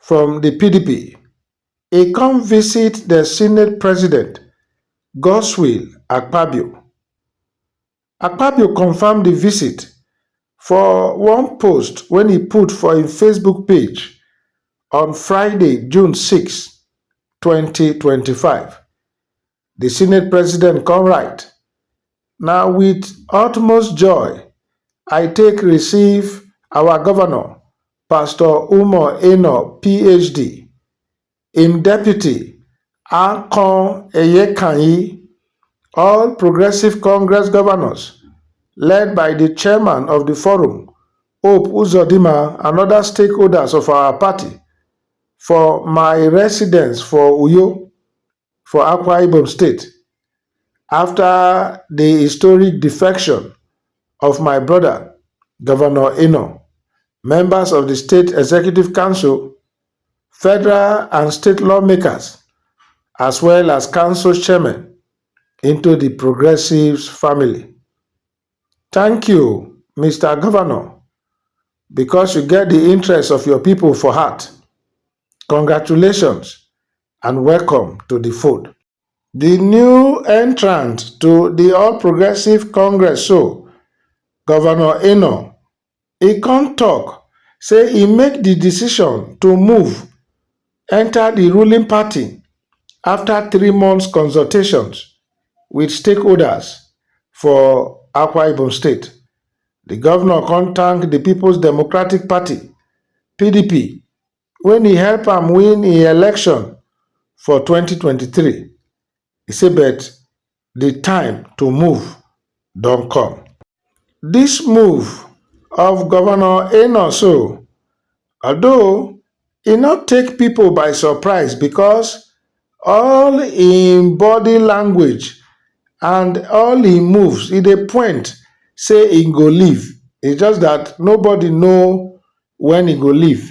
from di pdp e come visit di senate president godswill akpabio. akpabio confam di visit for one post wey e put for im facebook page on friday june six, twenty twenty five. di senate president kon write na wit utmost joy i take receive our govnor pastor umoh enoh phd im deputy akon eyekanyi all progressives congress govnors led by di chairman of di forum hope uzodinma and oda stakeholders of our party for my residence for uyo for Akwa Ibom State after di historic defection of my brother, Governor Enoh, members of di State Executive Council, federal and state lawmakers as well as council chairmen into di Progressives family. Thank you, Mister Governor, because you get di interest of your people for heart. Congratulations and welcome to the fold. The new entrant to the All Progressive Congress so, Governor Eno, e come talk say e make the decision to move enter the ruling party after three months consultations with stakeholders for Akwa Ibom State. The governor come thank the People's Democratic Party, PDP, when e help am win im election for 2023, e say but di time to move don come. Dis move of Governor Enoh Soh, although e no take pipo by surprise because all im body language and all im moves e dey point say im go leave, it's just dat nobody know when e go leave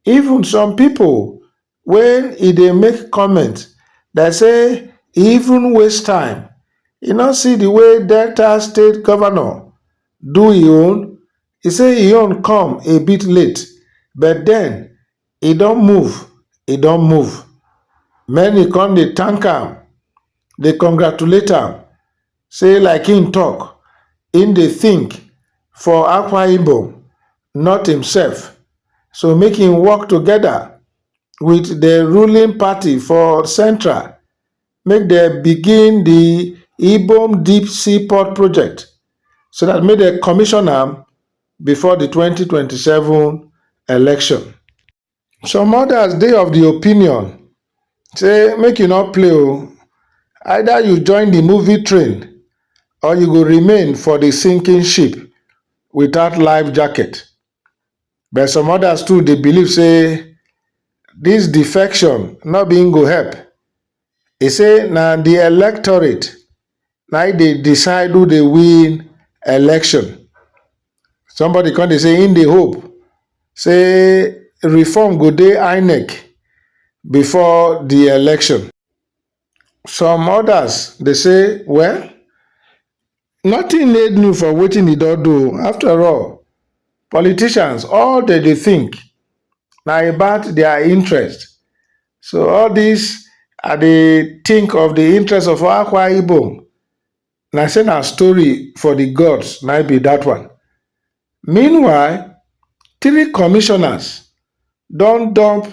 even some people when e dey make comment dem say e even waste time e no see the way delta state governor do e own e say e own come a bit late but then e don move e don move many come dey thank am dey congratulate am say like im tok im dey think for akwa ibom not imsef so make im work togeda wit di ruling party for central make dem begin di ibom deep sea port project so dat make dem commission am before di twenty twenty seven election. Some others dey of di opinion say make you no play o, either you join di movie train or you go remain for di sinking ship without life jacket. But some others too dey believe say dis defection no be im go help. e say na di electorate na im dey decide who dey win election somebody come dey say im dey hope say reform go dey inec before di election some odas dey say well Nothing dey new for wetin e don do after all politicians all dem dey think na about their interest so all this I dey think of the interest of Akwa Ibom na say na story for the gods na im be that one. Meanwhile three commissioners don dump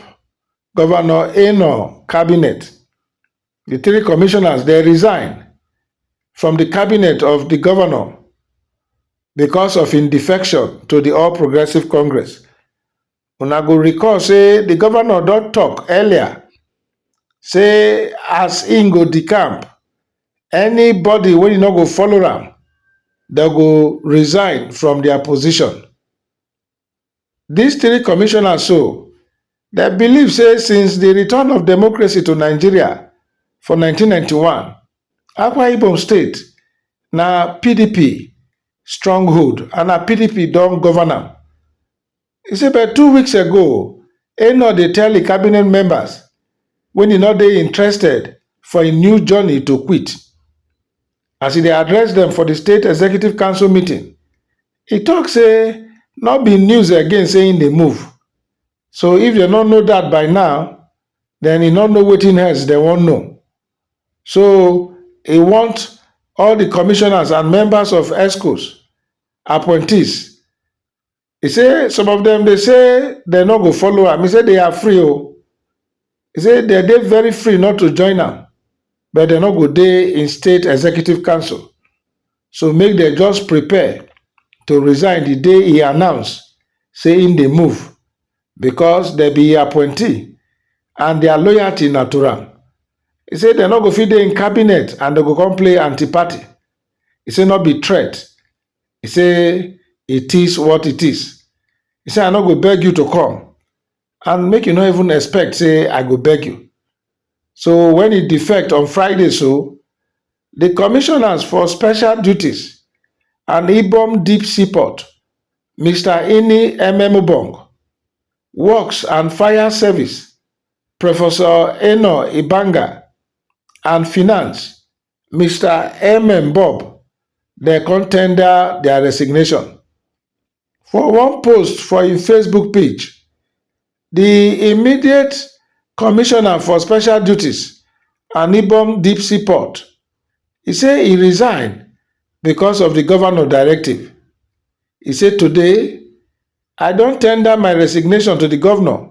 governor Enoh cabinet di three commissioners dem resign from di cabinet of di govnor becos of im defection to di all progressives congress una go recall say di govnor don tok earlier say as im go decamp anybody wey no go follow am dem go resign from dia position Dis three commissioners so, dem believe say since di return of democracy to Nigeria for nineteen ninety one, Akwa Ibom state na pdp stronghold and na pdp don govern am. E say but two weeks ago, Enoh dey tell im cabinet members wen e no dey interested for im new journey to quit. As e dey address dem for di state executive council meeting, He talk say no be news again say him dey move, so if dem no know that by now, then he no know wetin else dem wan know. So he want all the commissioners and members of Exco's appointees, he say some of dem dey say dem no go follow am, he say they are free o. He say dem dey very free not to join am but dem no go dey in state executive council so make dem just prepare to resign di day e announce say im dey move because dem be im appointee and dia loyalty na to am. He say dem no go fit dey im cabinet and dem go come play anti-party. He say no be threat. He say it is what it is. He say I no go beg you to come. and make you no even expect say I go beg you. So when e defect on Friday so, the commissioners for special duties and Ibom Deep Seaport, Mr. Ini Ememubong, Works and Fire Service, Professor Eno Ibanga, and Finance, Mister MM Bob dem come tender their resignation. For one post for im Facebook page, di immediate commissioner for special duties and Ibom deep sea port, e say e resign because of di governor directive. E say today, I don tender my resignation to di governor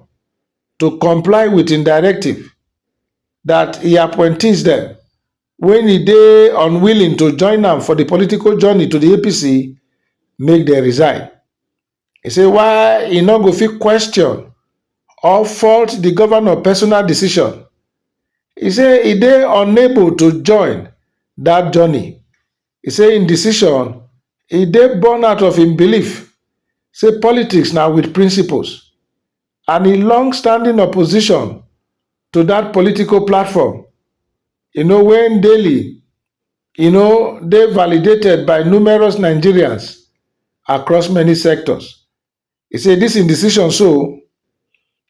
to comply wit im directive dat e appointees dem wen e dey unwilling to join am for di political journey to di apc make dem resign e say why e no go fit question or fault di govnor personal decision e say e dey unable to join dat journey e say im decision e dey born out of im belief say politics na wit principles and im longstanding opposition to dat political platform you know wey daily you know dey validated by numerous nigerians across many sectors e say dis im decision so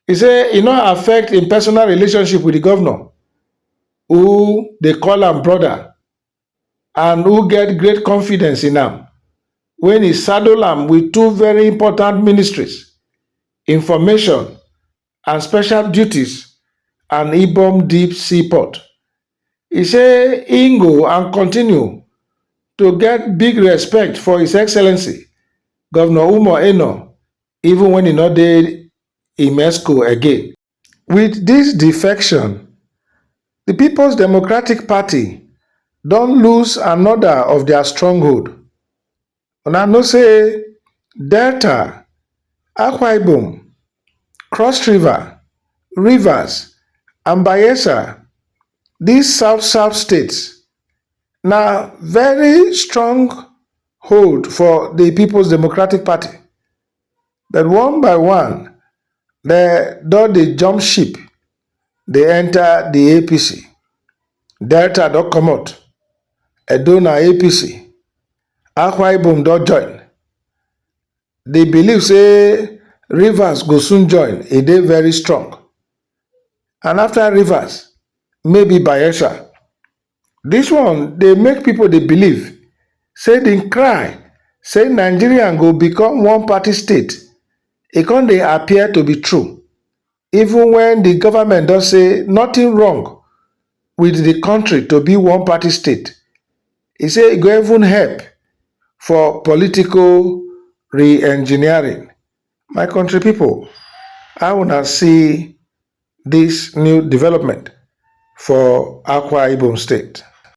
e say e no affect im personal relationship wit di govnor who dey call am brother and who get great confidence in am wen e saddle am wit two very important ministries information and special duties and ibom deep sea port e say e go and continue to get big respect for his excellency govnor umoh enoh even wen e no dey im exco again wit dis defection di peoples democratic party don lose anoda of dia stronghold una know say delta akwa ibom cross river rivers and bayelsa dis south south states na veri strong hold for di peoples democratic party but one by one dem don dey jump ship dey enta di apc. Delta don comot, Edo na apc, Akwa Ibom don join. Di believe say Rivers go soon join e dey very strong and afta Rivers maybe Bayelsa. Dis one dey make pipo dey believe say di cry say Nigerian go become one party state e come dey appear to be true even wen di government don say nothing wrong wit di kontri to be one party state, e say e go even help for political re-engineering. My kontri pipo, how una see dis new development for Akwa Ibom state.